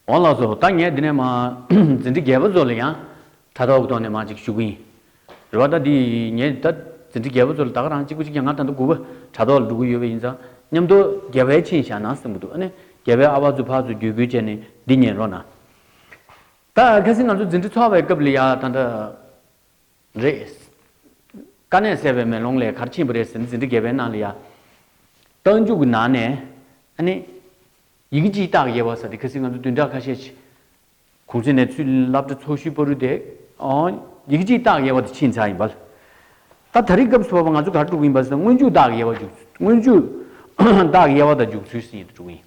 འོང་ལགས་སོ། ད་ངས་འདི་ནས་མ། འཛིན་གྲི་རྒྱལ་པོ་ཚོ་ལ་ཡང། ད་ལྟ་འོག་ཐོག་ནས་མ་ཅིག་ཞུ་གི་ཡིན། རེ་བ་ད་འདི་ཡིན། ངས་ད། འཛིན་གྲི་རྒྱལ་པོ་ཚོ་ལ་ད་ག་རང་གཅིག་པུ་ཅིག་ཀྱང་ང་ད་འདུག་གུ་བ། དྲ་ཐོག་ལ་འགྲོ་གི་ཡོད་པ་ཡིན་ཙང། མཉམ་དུ། རྒྱལ་བའི་ཆིངས་བཞག་ན་གསུངས་གི་འདུག་ཨ་ནི། རྒྱལ་བའི་ཨ་ཕ་ཚོ་ཕ་ཚོ་རྒྱུད་བསྐུལ་བྱས་ནས་འདི་ཉན་རོགས་གནང། ད་གལ་སྲིད་ང་ཚོ་འཛིན་གྲི་འཚོ་བའི་སྐབས་ལ་ཡ་ད་འདྲ་རེད། དཀའ་གནད་སེལ་བའི་མེ་ལོང་ལས་གར་ཆེན་པོ་རེད་ཟེར་ནས་འཛིན་གྲི་བརྒལ་བའི་ནང་ལ་ཡ། རྟགས་འཇུག་གི་ནང་ནས་ཨ་ནི། ཡི་གེ་སྤྱིའི་རྟགས་དབྱེ་བ་ཟེར་ཏེ་གལ་སྲིད་ང་ཚོ་བདུན་ཕྲག་ཁ་ཤས་ཆེ། གུང་གསེང་ནས་ཚུལ་བླ་བྲེ་ཚོགས་ཤུལ་སྤོ་རུ་དེ། ཡི་གེ་སྤྱིའི་རྟགས་དབྱེ་བ་དེ་ཕྱིན་ཚར་ཡིན་པ། ད་ད་རེས་སྐབས་སུ་བབ་པ་ང་ཚོ་གར་འགྲོ་གི་ཡིན་པ་ཟེར་ན་སྔོན་འཇུག་རྟགས་དབྱེ་བ་འཇུག་སྔོན་འཇུག་རྟགས་དབྱེ་བ་དང་འཇུག་ཚུལ་ཟེར་ཡི་དུ་འགྲོ་གི་ཡིན།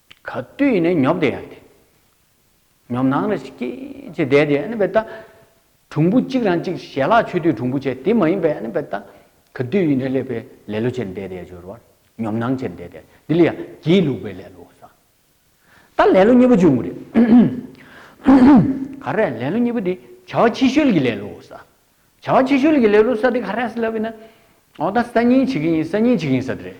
ག་དུས་ནས་ཉོབ་བསྡད་ཡ་དེ། ཉོབ་སྣང་རེ་ཞིག་སྐྱེས་ཅེས་བསྡད་དེ་ཨ་ནི་བལྟ། གྲུང་པོ་གཅིག་རང་གཅིག་ཞལ་ལག་མཆོད་དུས་གྲུང་པོ་བྱས་དེ་མ་ཡིན་པས་ཨ་ནི་བལྟ། ག་དུས་ཡིན་ནས་སླེབས་པའི་ལེ་ལོ་བྱས་བསྡད་དེ་སྦྱོར་བར་ཉོབ་སྣང་བྱས་བསྡད་དེ་འདི་ལ་ཡང་སྒྱིད་ལུག་པའི་ལེ་ལོ་ཟེར། ད་ལེ་ལོ་གཉིས་པོ་འབྱུང་གི་རེད། ག་རེ་ལེ་ལོ་གཉིས་པོ་དེ་བྱ་བ་ཕྱི་ཤོལ་གྱི་ལེ་ལོ་ཟེར། བྱ་བ་ཕྱི་ཤོལ་གྱི་ལེ་ལོ་ཟེར་དེ་ག་རེ་ཟེར་ལབ་ཡིན་ན། འོ་ད་གསར་རྙིང་བྱེད་ཀྱི་ཡིན་གསར་རྙིང་བྱེད་ཀྱི་ཡིན་ཟེར་དེ་རེད།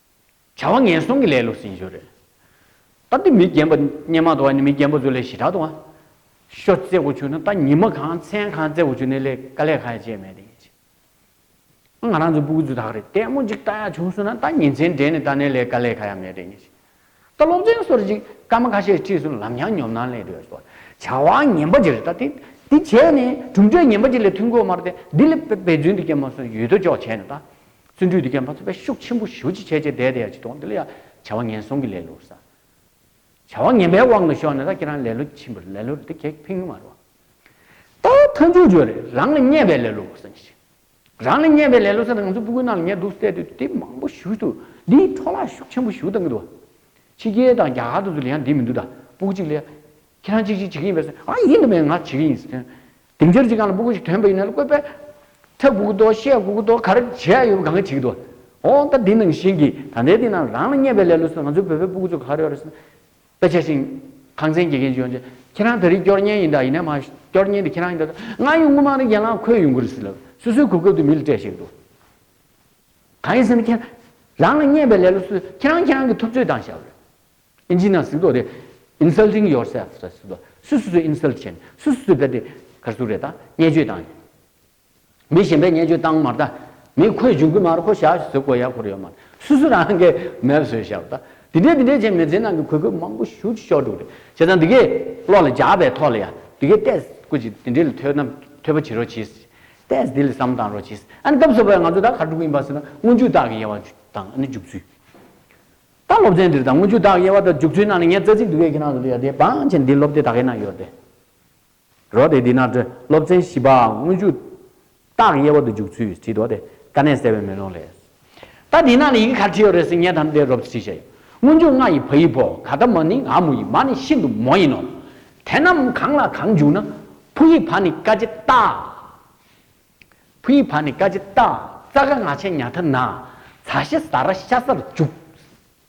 བྱ་བ་ངན་སོང་གི་ལས་ལུགས་ཟིན་ཞོར་རེད། ད་འདི་མི་རྒན་པ་སྙན་མ་དང་མི་རྒན་པོ་ཚོ་ལས་ཞི་དྲག་དང། ཤོ་རྩེ་དགོས་བྱུང་ན་ད་ཉི་མ་གང་མཚན་གང་རྩེ་དགོས་བྱུང་ནས་ལས་ཀ་ལས་ཁ་ཡ་བྱས་མེད་དེ། ང་རང་ཚོ་སྤུ་གུ་ཚོ་དག་རེད་ལྟད་མོ་ཅིག་ལྟ་ཡ་བྱུང་སོང་ན་ད་ཉིན་མཚན་འདྲེས་ནས་ལྟ་ནས་ལས་ཀ་ལས་ཁ་ཡ་མེད་དེ། ལྟ་སློབ་ཚན་སོར་གཅིག་སྐར་མ་ཁ་ཤས་གཅིག་གསུམ་ལམ་ཡང་ཉོབ་སྣང་ལས་འགྲོལ་སོགས་བྱ་བ་ངན་པ་ཇི་རིགས་དང་དེ་བྱས་ནས་གྲུབ་འབྲས་ངན་པ་ཅིག་ལས་ཐུགས་འགོ་མར་ཏེ་འདི་ལས་པེ་པེ་རྫུན་དུ་སྐྱེལ་མ་སོང་ཡུལ་དོ་ཅོག་བྱས་ནས་ད་བརྩོན་འགྲུས་དུ་སྐྱེལ་མ་སོང་བས་ཤུགས་ཆེན་པོ་ཞུ་ཅི་བྱས་བྱས་བསྡད་བསྡད་ཡ་ཅི་དོགས་འདི་ལ་ཡ་བྱ་བ་ངན་སོང་གི་ལེ་ལོ་ས་བྱ་བ་ངན་པའི་དབང་གིས་ཤོར་ནས་ད་ཁྱེད་རང་ལེ་ལོ་ཆེན་པོ་ལེ་ལོ་རེད་འདི་གལ་ཕན་གི་མ་རེད་བ་ད་མཐའ་མཇུག་བརྗོད་རེད་རང་ལ་བརྙས་པའི་ལེ་ལོ་བ་སེམས་ཤིག། རང་ལ་ཉེ་བའི་ལས་སློབ་ཚན་དང་ང་ཚོའི་སྤུ་གུའི་ནང་ལ་ཉེ་འདུག་བསལ་དུས་དེབ་མང་པོ་ཞུས་འདུག་འདིའི་འཕྲོ་བརླག་ཤུགས་ཆེན་པོ་ཞུ་ཐབས་མི་འདུག་ཕྱི་རྒྱལ་དང་རྒྱ་གར་དུ་ཚུར་ལས་ཡང་འདི་མི་འདུག་ད་སྤུ་གུ་གཅིག་ལས། ཁྱེད་རང་གཅིག་གཅིག་བྱེད་ཀྱི་ཡིན་པས་སོ་ཨ་ཡིན་དུ་མེད་ང་བྱེད་ཀྱི་ཡིན་ཟེར། དེང་ཕྱིར་གཅིག་གང་ལ་སྤུ་གུ་ཞིག་དོན་པ་ཡིན་ན་ལ་བཀོད་པས། ཚ་སྤུ་གུ་དོ་ཤས་སྤུ་གུ་དོ་གར་བྱས་ཡོད་པ་གང་གི་བྱེད་ཀྱི་འདུག་ཨོ་ད་འདི་ནང་བཞིན་གྱི་ད་ལྟའི་དུས་ནང་ལ་རང་ལ་ཉེ་བའི་ལས་སློབ་ཚན་དང་ང་ཚོའི་བོད་པའི་སྤུ་གུ་ཚོ་ག་རེ་ཡོད་རེད་ཟེར། དཔེ་ཆ་ཞིག། ཁང་ཚན་དགེ་རྒན་ཇོན་ཅེ། ཁྱེད་རང་ད་རིང་སྐྱོར་གཉེར་ཡིན་ད་ཡིན་ན་མ། སྐྱོར་གཉེར་འདི་ཁྱེད་རང་ཡིན་ད། ང་ཡུལ་དངོས་མང་རིག་རྒྱལ་ལང་ཁོའི་ཡུལ་མགོ་རིག་སི་ལ། སུ་སུའི་གོ་སྐབས་དུ་མི་ལ་སྤྲད་ཞིག་འདུག། གང་ཡིན་ཟེར་ན་ཁྱེད། རང་ལ་བརྙས་པའི་ལེ་ལོ་སུ། ཁྱེད་རང་ཁྱེད་རང་གི་ཐུབ་ཚོད་དང་ཞབས། ཨིན་ཇི་ནང་ཟིག་དོག་རེད། Insulting yourself། སུ་སུ་སུ Insult བྱེད། སུ་སུ་སུ་བེད་དེ། གར་སུ་རེད་ད། བརྙས་བཅོས་དང། མི་གཞན་པའི་བརྙས་བཅོས་བཏང་མར་ད། མི་ཁོས་འཇུག་གི་མར་ཁོ་ཞག་བཟོས་དགོས་ཡག་ཁུར་ཡོད་མར། སུ་སུ་རང་གི་མལ་བཟོས་ཞག་ད། དེ་འདྲས་དེ་འདྲས་བྱས་མི་ཚེ་ནང་གི་གོས་སྐུད་མང་པོ་བཞུ་ཅི་ཤོག་འགྲོ་གི་རེད་བྱས་ཙང་དེ་གས་གློག་ལ་འཇགས་པའི་ཐོག་ལ་ཡང་དེ་གས་ཏས་སྐུ་ཅིག་དེ་འདྲས་ལ་ཐོས་ན་ཐོས་པ་བྱེད་རོགས་གྱིས། ཏས་དེ་ལ་བསམ་བཏང་རོགས་གྱིས། ཨ་ནི་སྐབས་སོ་པའི་ང་ཚོ་ད་གར་འགྲོ་གི་ཡིན་པ་ཟེར་ན་སྔོན་ཇུས་བདག་གི་དབྱེ་བ་དང་ཨ་ནི་འཇུག་ཚུལ། ད་སློབ་ཚན་འདིར་ད་སྔོན་ཇུས་བདག་གི་དབྱེ་བ་དང་འཇུག་ཚུལ་ནང་ནས་ངས་རྩ་ཚིག་དུ་གས་ཁྱེད་རང་ཚོ་ལ་ཡོད་དེ་བང་ཆེན་འདི་སློབ་དེ་ད་གས་ན་ཡོད་དེ། རོ་དེ་འདི་ན་སྤྲོ། སློབ་ཚན་བཞི་པའང་དངོས་འཇུག། རྟགས་དབྱེ་བ་དུ་འཇུག་ཚུལ་བྲིས་འདུག་སྟེ། ཀ་ནས་གསལ་བའི་མེ་ལོང་ལས། ད་འདི་ན་ནི་ཡི་གེ་ག་བྲིས་ཡོད་རེད་ཟེར་ངས་ད་ནི་དེ་རོབ་ཏུ་བྲིས་བྱས་ཡོད། དངོས་འཇུག་ང་ཡི་བ་ཡི་བོ། ག་ད་མ་ནི་ང་མོ་ཡི་མ་ནི་ཤིན་ཏུ་མོ་ཡིན་ནོ། དེ་རྣམས་གང་ལ་གང་འཇུག་ན། བུ་ཡི་བ་ནི་ཀ་ཇི་ཏཱ། བུ་ཡི་བ་ནི་ཀ་ཇི་ཏཱ། ཙཀ་ང་ཆེ་ཉྭ་ཐ་ན། ཚ་ཤི་ཟ་ར་ཤ་ཟར་འཇུག།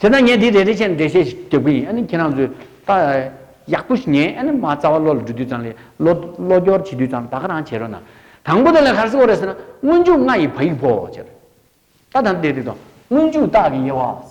དེ་ན་ངས་འདི་རེ་རེ་བྱས་ནས་འགྲེལ་བཤད་ཞིག་རྒྱབ་ཀྱི་ཡིན་ཨ་ནི་ཁྱེད་རང་ཚོས་ལྟ། ཡག་པོ་ཞིག་ཉན་ཨ་ནི་མ་རྩ་བ་བློ་ལ་འདྲུད་དུས་ཙང་ལས་བློ་བློ་སྐྱོར་བྱེད་དུས་ཙང་ད་ག་རང་བྱེད་རོགས་གནང། དང་པོ་དེ་ལས་གར་སི་ཀོ་རེད་ཟེར་ན་སྔོན་འཇུག་ལྔ་ཡི་བ་ཡིག་བོ་ཅེས་རེད། ད་ད་འདི་རེད་དོ། སྔོན་འཇུག་རྟགས་ཀྱི་དབྱེ་བ།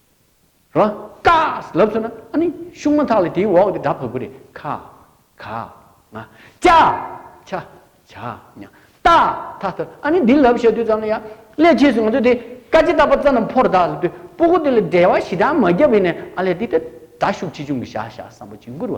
རོ། ཀ། ལབ་ཚུར་ན་ཨ་ནི་ཤུག་མ་ཐག་ལ་དེའི་འོག་དེ་སྒྲ་བབས་པོ་རེད་ཁ། ག། ང། ཅ། ཆ། བྱ། ཉ། ཏ། ཐ་ལྟར་ཨ་ནི་འདི་ལབ་བཤད་དུས་ཙམ་ལ་ཡང། སླད་ཕྱིས་སུ་ང་ཚོས་དེ་ཀ་ཅི་ལྟ་བ་ཙམ་ན་ཕོར་བདག་ལ་དུས་སྤོ་གོ་དེ་ལ་འབྲེལ་བ་ཞི་དྲག་མ་བརྒྱབ་པའི་ནས་ཨ་ལས་དེ་ལྟར་དྲག་ཤུགས་ཆེ་ཆུང་གི་བྱ་བཞག་བསམ་པོ་གཅིག་འགུར་བ་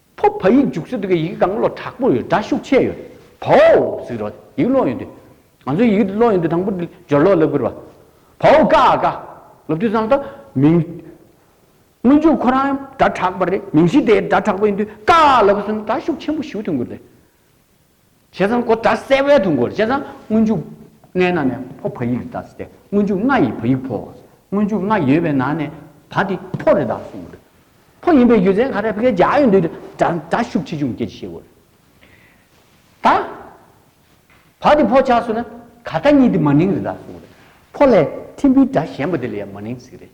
ཕོ་བ་ཡིག་རྒྱུགས་སུ་འདུག་གི་ཡིག་གང་བློ་དྲག་པོ་ཡོད་སྒྲ་ཤུགས་ཆེ་ཡོད་བོའོ་ཟིག་རོ་ཡིག་བློ་ཡོད་དུས་ང་ཚོ་ཡིག་བློ་ཡོད་དུས་དང་པོ་འདི་སྦྱོར་ཀློག་ལབ་དགོས་རེད་བ་བོའོ་དཀའ་ཨ་དཀའ་ལབ་དུས་བསམ་དང་མིང། སྔོན་འཇུག་ཁོ་རང་སྒྲ་དྲག་པ་རེད་མིང་གཞི་དེ་སྒྲ་དྲག་པོ་ཡིན་དུས་དཀའ་ཨ་ལབ་བསམ་སྒྲ་ཤུགས་ཆེན་པོ་ཞུ་ཐུབ་དགོས་རེད། བྱས་ཙང་གོ་བརྡ་གསལ་བས་དུ་འགོར་བྱས་ཙང་སྔོན་འཇུག་ལྔའི་ནང་ནས་ཕོ་བ་ཡིག་རེ་གདགས་སྟེ་སྔོན་འཇུག་ལྔ་ཡིས་བ་ཡིག་ཕོ་བ་སྔོན་འཇུག་ལྔ་ཡོད་པའི་ནང་ནས་བ་དེ་ཕོ་རེ་གདགས་གསུངས་པ་རེད། ཕོ་ཡིན་པའི་རྒྱུ་མཚན་ག་རེ་བགད་རྒྱག་ཡོད་འདོད་དུ་སྒྲ་ཤུགས་ཆེ་ཆུང་སྐད་ཅིག་ཤེས་དགོས་རེད། ད་བ་དེ་ཕོ་ཆགས་སུ་ན་ག་ད་གཉིས་དེ་མ་ནིང་རེ་གདགས་གསུངས་པ་རེད། ཕོ་ལས་ཐིམ་པོའི་སྒྲ་གཞན་པ་དེ་ལ་ཡང་མ་ནིང་ཟེར་གི་རེད།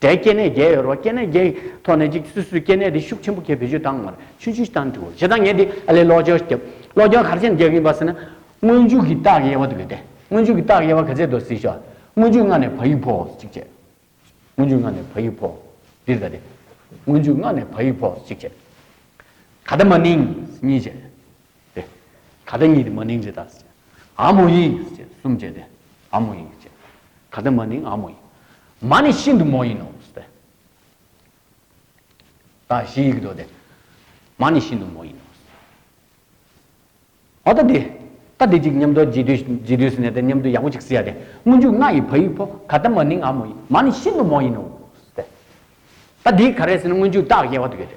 སྒྲའི་སྐྱེ་གནས་བརྒྱད་ཡོད་རོགས་སྐྱེ་གནས་བརྒྱད་ཀྱི་ཐོག་ནས་ཅིག་སུས་སུའི་སྐྱེ་གནས་དེ་ཤུགས་ཆེན་པོ་ཁྱེད་བེད་སྤྱོད་བཏང་མ་རེད་ཆུ་ཆུ་བཏང་འགྲོ་ཞེ་སྡང་ངས་འདི་ཨ་ལས་ལོག་སྦྱོར་བརྒྱབ་ལོག་སྦྱོར་གར་ཆེན་བརྒྱབ་ཡིན་པ་ཟེར་ན་སྔོན་མཇུག་གི་རྟགས་དབྱེ་བ་དུ་ཡོད་དེ་སྔོན་མཇུག་གི་རྟགས་དབྱེ་བ་ག་ཚད་དུ་གཟིགས་ཤོག་སྔོན་མཇུག་སྔ་ནས་བ་ཡིག་ཕོག་གཅིག་བྱས་སྔོན་མཇུག་སྔ་ནས་བ་ཡིག་ཕོག་འདིར་ག་དེ་སྔོན་མཇུག་སྔ་ནས་བ་ཡིག་ཕོག་གཅིག་བྱས་ག་དེ་མ་ནིང་གཉིས་བྱས། ཏེ། ད་ལྟ་ཉིད་མ་ནིང་ཇི་ལྟར་བྱེད། ཨ་མོ་ཡིས་བྱེད་གསུམ་བྱེད་དེ། ཨ་མོ་ཡིས་བྱེད། ད་ལྟ་མ་ནིང་ཨ་མོ་ཡིས། མ་ནི་ཤིན་ཏུ་མོ་ཡིན་ནོ། ཏེ། ད་བཞི་ཡིག་འདོགས་ཏེ། མ་ནི་ཤིན་ཏུ་མོ་ཡིན་ནོ། ཨོ་ད་དེ། ད་དེ་ཅིག་སྙམ་དུ་རྗེས་ཟློས་སུ་ནས་ཏེ་སྙམ་དུ་ཡག་པོ་ཅིག་བསྲི་ཡ་སྟེ། སྔོན་འཇུག་ལྔ་ཡི་བ་ཡིག་ཕོ། ད་ལྟ་མ་ནིང་ཨ་མོ་ཡིས། མ་ནི་ཤིན་ཏུ་མོ་ཡིན་ནོ། ཏེ། ད་དེའི་ག་རེ་ཟེར་ན་སྔོན་འཇུག་རྟགས་དབྱེ་བ་དུ་ཡོད་དེ།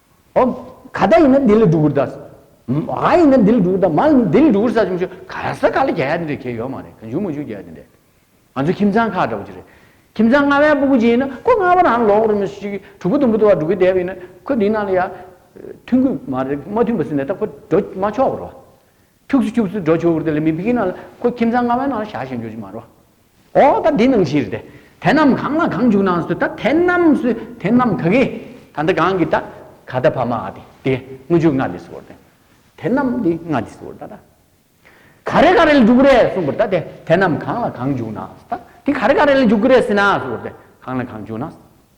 ཨོ། ག་ད་ཡིན་ན་དེ་ལས་སྒྲུབ་པར་གདའ། མ་ཡིན་ན་དེ་ལས་སྒྲུབ་པར་གདའ། མ་ཡིན་ན་དེ་ལས་སྒྲུབ་པར་གདའ་ཟེར་མི་ཆོག་ག་ར་ས་ག་ལ་རྒྱ་ཡ་དེ་འདྲའི་གལ་ཡོད་མ་རེད་ག་འཇུག་མ་འཇུག་རྒྱ་ཡ་དེ་འདྲའི། ང་ཚོའི་ཁྱིམ་ཚང་ཁ་འདྲ་པོ་ཅིག་རེད། ཁྱིམ་ཚང་ལྔ་བའི་སྤུ་གུ་གཅིག་ཡིན་ན་ཁོ་ལྔ་བ་རང་ལོག་རུ་མི་ཤིག་དྲུག་པོ་དུམ་བུ་དུ་བ་སྒྲུབ་ཀི་བསྡད་པ་ཡིན་ན་ཁོ་དེའི་ནང་ལ་ཡ། མཐུན་གི་མ་རེད་མ་མཐུན་པ་ཟིན་ན་ད་ཁོ་འགྲོ་མ་ཆོག་པར་རོ། ཐུགས་སུ་ཆུབ་སུ་འགྲོ་ཆོག་གི་རེད་ལ་མི་ཕིག་གི་ནང་ལ་ཁོ་ཁྱིམ་ཚང་ལྔ་བའི་ནང་ལ་བཞག་བཞག་འགྱོ་ཆོག་མ་རོ། ཨོ་ད་འདི་ནང་བཞིར་དེ་དེ་རྣམས་གང་ལ་གང་འཇུག་ནང་སོ་ད་དེ་རྣམས་སུ་དེ་རྣམས་ག་གི་ད་ད་གང་གི་ད་ག་ད་བ་མ་ཨ་དེ་དེ་དངོས་འཇུག་ང་དེ་སོ་དེ་དེ་རྣམས་དེ་ང་དེ་སོ་ད་ད་ག་རེ་ག་རེ་ལ་འཇུག་གི་རེད་གསུངས་པར་ད་དེ་དེ་རྣམས་གང་ལ་གང་འཇུག་ནང་སོ་ད་དེ་ག་རེ་ག་རེ་ལ་འཇུག་གི་རེད་ཟེར་ན་སོ་དེ་གང་ལ་གང་འཇུག་ནང་སོ།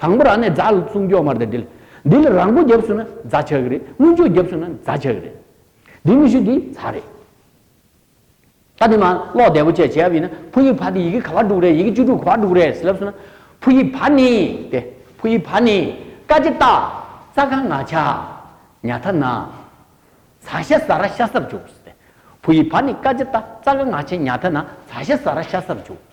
དང་པོ་རང་ནས་རྫ་ལ་བཙུགས་མགྱོགས་མར་དེ་འདྲིལ། འདི་ལ་རང་མགོ་བརྒྱབ་སོང་ན་རྫ་ཆག་གི་རེད། སྔོན་ཆོག་བརྒྱབ་སོང་ན་རྫ་ཆག་གི་རེད། འདི་མི་ཤུགས་ཀྱིས་རྫ་རེད། ད་དེ་མ་ཀློག་བདེ་པོ་བཅས་བྱས་པ་ཡིན་ན་ཕུ་ཡི་བ་དེ་ཡི་གེ་ག་བ་དྲུག་རེད་ཡི་གེ་བཅུ་དྲུག་གོ་བ་དྲུག་རེད་ཟེར་ལབ་སོང་ན། ཕུ་ཡི་བ་ནི་སྟེ། ཕུ་ཡི་བ་ནི། ཀ་ཅི་རྟ། ཙ་ག་ང་ཆ། ཉ་ཐ་ན། ཚ་ཤ་ཟ་ར་ཤ་སར་བྱུགས། ཕུ་ཡི་བ་ནི་ཀ་ཅི་རྟ་ཙ་ག་ང་ཆ་ཉ་ཐ་ན་ཚ་ཤ་ཟ་ར་ཤ་སར་བྱུགས།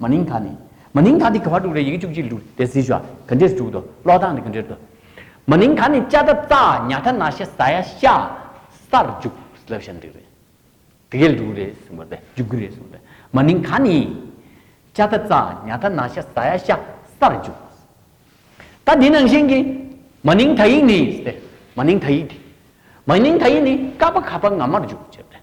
མ་ནིང་ཐ་ནི། མ་ནིང་ཐ་དེ་ག་བར་འདུག་རེད་ཡི་གེ་བཅུ་གཅིག་འདུག་དེ་བཟི་ཞོ། ག་འདྲེས་འདུག་དོ། ཀློག་སྟངས་དེ་ག་འདྲེར་འདུག། མ་ནིང་ཐ་ནི་ཅ་ད་ཙ་ཉ་ཐ་ན་ཤ་ཟ་ཡ་ཤ། སར་འཇུག་ལབ་ཤ་འདུག་རེད། དེ་གས་འདུག་རེད་གསུངས་པ་རེད་འཇུག་གི་རེད་གསུངས་རེད། མ་ནིང་ཐ་ནི། ཅ་ད་ཙ་ཉ་ཐ་ན་ཤ་ཟ་ཡ་ཤ། སར་འཇུག། ད་དེ་ནང་བཞིན་གྱི། མ་ནིང་ཐ་ཡིག་ནི། མ་ནིང་ཐ་ཡིག་དེ། མ་ནིང་ཐ་ཡིག་ནི་ཀ་པ་ག་པ་ང་མར་འཇུག་ཅེས་པ་རེད།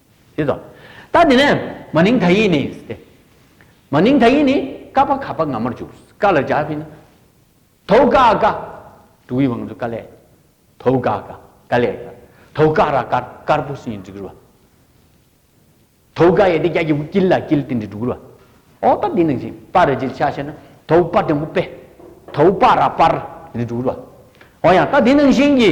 ཡོད་དོ། ད་དེ་ནས་མ་ནིང་ད་ཡིག་ནི་སྟེ། མ་ནིང་ད་ཡིག་ནི་ཀ་པ་ག་པ་ང་མར་འཇུག། ཀ་ལ་སྦྱར་བས་ན། དོའུ་ཀ་ཀ། དུ་བའི་བང་མཛོད་ཀ་ལས། དོའུ་ཀ་ཀ། ཀ་ལས་ཀ། དོའུ་ཀ་ར་དཀར་དཀར་པོ་སིན་འབྲི་རུ་བ། དོའུ་ཀ་ཡེ་དེ་རྒྱ་གྱི་བུ་ཀིལ་ལ་ཀིལ་ཏི་འདི་འབྲུ་གུ་རུ་བ། ཨོ་ད་དེ་ནང་བཞིན་པ་ར་ཇིལ་ཆ་ཤ་ན་དོའུ་པ་དེ་མོ་པེ། དོའུ་པ་ར་པར་འདི་འབྲུ་གུ་རུ་བ། ཨོ་ཡང་ད་དེ་ནང་བཞིན་གྱི།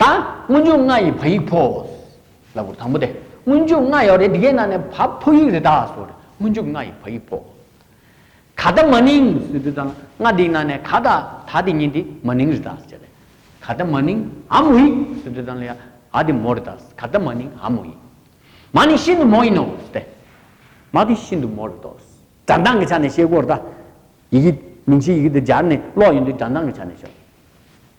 ད། སྔོན་འཇུག་ལྔ་ཡི་བ་ཡིག་ཕོ། ལ་བུར་དང་པོ་སྟེ། སྔོན་འཇུག་ལྔ་ཡོད་རེད་དེ་གའི་ནང་ནས་བ་ཕོ་ཡིག་རེ་ད་སོ་རེད་སྔོན་འཇུག་ལྔ་ཡི་བ་ཡིག་ཕོ། ག་ད་མ་ནིང་སི་དེ་དང་ལྔ་དེའི་ནང་ནས་ག་ད་ད་དེ་གཉིས་དེ་མ་ནིང་རེ་ད་སོ་རེད། ག་ད་མ་ནིང་ཨ་མོ་ཡིག་སི་དེ་དང་ལི་ཡ་ཨ་དེ་མོ་རེ་ད་སོ་ག་ད་མ་ནིང་ཨ་མོ་ཡིག། མ་ནི་ཤིན་ཏུ་མོ་ཡིན་ནོ་སྟེ། མ་དེ་ཤིན་ཏུ་མོ་རེ་ད་སོ་སྒྲ་མདངས་ཀྱི་ཆ་ནས་ཤེས་དགོས་རེ་ད། ཡི་གེ་མིང་གཞིའི་ཡི་གེ་དེ་སྦྱར་ནས་ཀློག་ཡོང་དུས་སྒྲ་མདངས་ཀྱི་ཆ་ནས་ཤོད།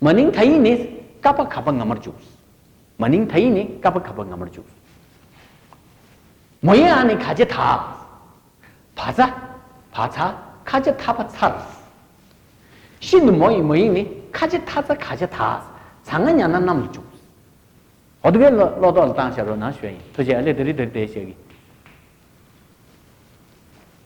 མ་ནིང་ད་ཡིག་ནི་ཀ་པ་ག་པ་ང་མར་འཇུག། མ་ནིང་ད་ཡིག་ནི་ཀ་པ་ག་པ་ང་མར་འཇུག། མོ་ཡེ་ཨ་ནི་ག་ཅེ་ཐ། བ་ཚ། བ་ཚ་ཁ་ཅེ་ཐ་བ་ཚར། ཤི་ནི་མོ་ཡི་མོ་ཡིག་ནི་ཁ་ཅེ་ཐ་ཚ་ཁ་ཅེ་ཐ། ཚ་ང་ཉ་ན་གནམ་ལ་འཇུག། ཨོ་དི་བའི་ལོ་ཏོག་ལ་བཏང་བྱ་རོ་ན་ཞོ་ཡིན་ཐུ་བྱེད་ཨ་ལེ་དི་རི་དི་རི་དེ་བྱེད་གི།